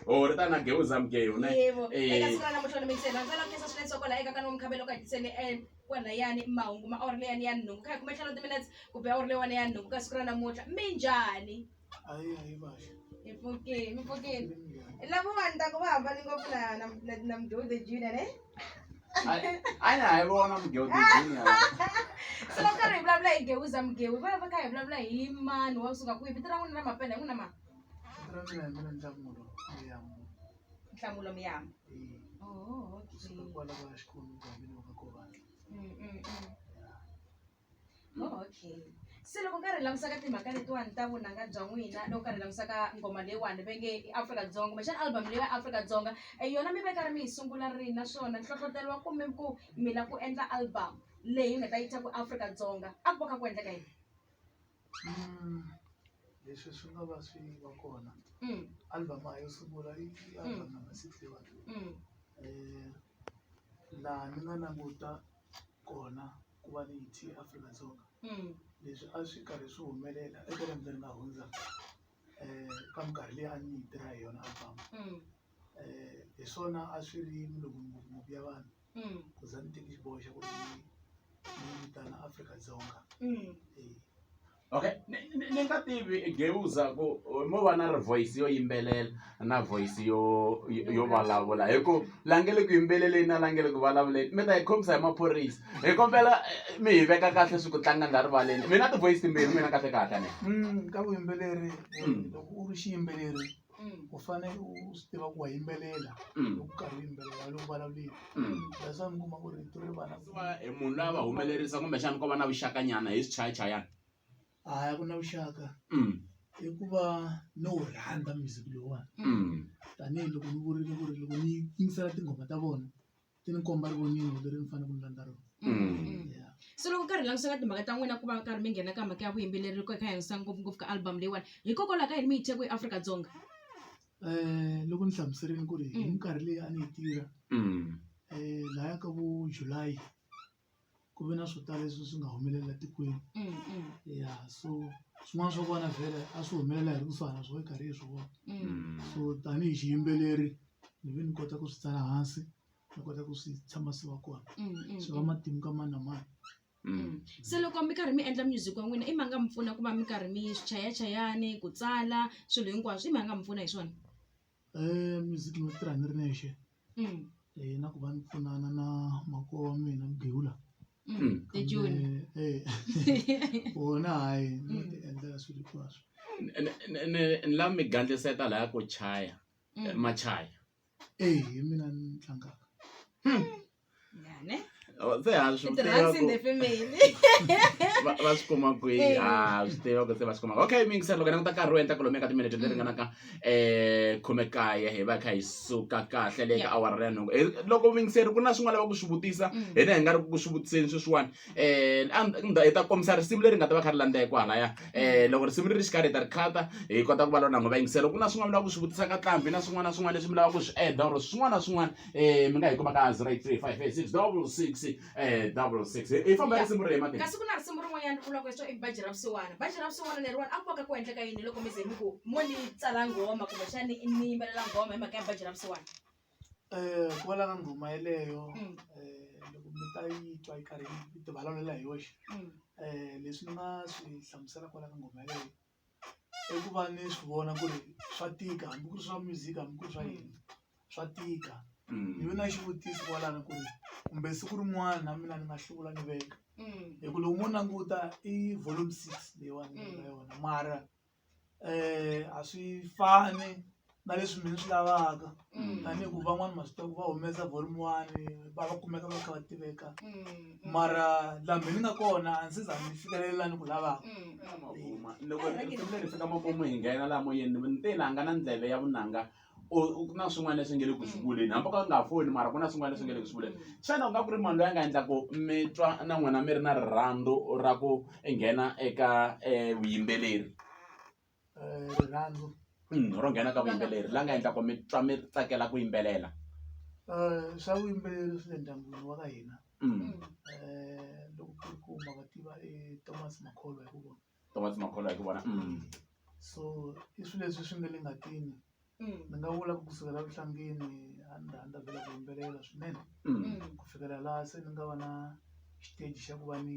Oh, ri ta na gewu za muke yona. Yebo. Eh. Eka siku ra namuntlha ni mi tshemba ndzi lava ku khensa swinene soko laha eka ka n'wi mukhabelo ka tiseni eh, kwalayani mahungu ma awara leyani ya nhungu kha hi kume tlhelo timinetse ku be awara leyiwani ya nhungu ka siku ra namuntlha mi njhani Hayi hayi bahle. mi pfukile mi pfukile lavo vanhu ta ku va hambani ngopfu na na na na mudode junior ne Ai na hi vona mugewu junior. so loko karhi hi vulavula hi gewuza mugewu hi va va kha hi vulavula hi mani wa kusuka kwihi vito ra n'wina ra mapenda hi n'wina ma nhlamulo mi yamba oh okay se loko karhi langusaka timhaka letiwani ta vunanga bya n'wina loko karhi langusaka nghoma leyiwani va nge i Afrika-Dzonga kumbexana album leyi va Afrika-Dzonga yona mi ve karhi mi yi sungula rini naswona nhlohlotelo wa kume ku mi la ku endla album leyi nga ta yi ta ku Afrika-Dzonga a ku va kha ku endleka yini. leswi swi nga va swi va kona album a yo sungula yi album number six leyiwani laha ni nga languta kona ku va ni yi thyi Afrika-Dzonga leswi a swi karhi swi humelela eka lembe ri nga hundza ka minkarhi leyi a ni yi tirha hi yona album hi swona a swi ri mulungu ngopfu ngopfu ya vanhu. Mm. ku za ni teki xiboho xa ku ri ni ni vitana Afrika-Dzonga Mm. Eh, okay ni ni- ni nga tivi geuza ku mo va na ri voice yo yimbelela na voice yo yo- yo vulavula hi ku la nge le ku yimbeleleni na la nge le ku vulavuleni mi ta hi khomisa hi maphorisa hi kombela eh, mi hi veka kahle swi ku tlanga nga rivaleni mina ti-voice timbirhi mina kahle kahle ne Mm, ka vuyimbeleri eh, Mm. loko u ri xiyimbeleri u fanele u swi tiva ku wa yimbelela loko u karhi u yimbelela loko vulavulile that's why mi kuma ku ri rito ri va na hi munhu loyi a va humelerisa kumbexana ko va na vuxakanyana hi swichayachayana a hi ku na vuxaka i ku va no wu rhandza music lowuwani tanihiloko ni vurile ku ri loko ni yingisela tinghoma ta vona ti ni komba rivoniwa leri ni fanele ku ni landza rona Mm. Yeah. so loko karhi langutisa ka timhaka ta n'wina ku va karhi mi nghena ka mhaka ya vuyimbeleri loko hi kha hi yangisa ngopfungopfu ka album leyiwani hikokwalaho ka yini mi yi thyeku eafrika-dzonga Eh, loko ni hlamuserini ku ri hi Mm. minkarhi leyi a ni yi tirha Mm. um lahaya ka vo july ku ve na swo tala leswi swi nga humelela etikweni ya so swin'wana swa kona vhele a swi humelela hi ri kusuhana swo hi karhi hi swi vona so tanihi xiyimbeleri ni ve ni kota ku swi tsala hansi ni kota ku swi tshama swi va kona swi va matimu ka mani na mani se loko mi karhi mi endla music wa n'wina i ma nga mi pfuna ku va mi karhi mi swichayachayani ku tsala swilo hinkwaswo i ma nga mi pfuna hi swona music ni nga tirha ni ri nexe na ku va ni pfunana na makwavo wa mina mugevula wona hayi ni ti endlela swilo hinkwaswo ni la mi gandliseta laya ku chaya machaya eya hi mina ni tlangaka ngane Oh, se ha swi it tiva runs in ku- the family va va swi kuma kwihi Eh. ha swi tiva ku se va swi kuma okay mingisela loko languta nkarhi wenta ku lomeka timinete leri ringanaka um khume kaye hi va kha hi suka kahle le ka Yeah. awara ya nhungu Eh, loko mingiseri ku na swin'wana lava ku swi vutisa Mm. hina hi nga ri ku swi vutiseni sweswiwani um hi ta kombisa risimu leri nga ta va kha ri landzela hiku halaya um loko risimu ri ri xikarhi hi ta ri khata hi kota ku va lona n'wi va yingisela ku na swin'wana mi lava ku swi vutisa ka tlambi na swin'wana na swin'wana leswi mi lava ku swi eda or swin'wana na swin'wana eh mi nga hi kuma ka 0835866666 hi famba risimu ri ema kasi ku na risimu rin'wanyana ri vulaka leswaku i baji ra vusiwana baji ra vusiwana leriwani a ku vaka ku endleka yini loko mi ze mi ku mo ni tsala nghoma kumbexani ni yimbelela nghoma hi mhaka ya baji ra vusiwana um ku va la na ndhuma yeleyo um loko mi ta yi twa yi karhi yi tivalalela hi yoxe um leswi ni nga swi hlamusela kwala ka nghoma yeleyo i ku va ni swi vona ku ri swa tika hambi ku ri swa music hambi ku ri swa yini swa tika ni ve na xivutiso kwalano ku ri kumbe siku rin'wana na mina ni nga hlula ni veka hi ku loko mo languta i volume six leyiwani nga yona mara a swi fani. na leswi mina swi lavaka mm. tanihi ku van'wani ma swi tiva ku va humesa volume one va va kumeka va kha va tiveka mm. mara laha mhe ni nga kona a ndzi za ni fikelelelani ku lavaka mm. loko ri fika makumu hi nghena laha moyeni ni te nanga na ndleve ya vunanga ku na swin'wana leswi nge le ku swi vuleni hambi ka nga foni mara ku na swin'wana leswi nge le ku swi vuleni xana u nga ku ri munhu loyi a nga endla ku mi twa na n'wina mi ri na rirhandzu ra ku nghena eka um vuyimbeleri rirhandzu ro nghena ka vuyimbeleri la nga endla ku mi twa mi tsakela ku yimbelela swa vuyimbeleri swi le ndyangwini wa ka hina lokukulukuma va tiva i Thomas Makholwa hi ku vona Thomas Makholwa hi ku vona so i swilo leswi swi nga le ngatini ni nga vula ku sukela evuhlangini a ni rhandza vhela ku yimbelela swinene ku fikela laha se ni nga va na xiteji xa ku va ni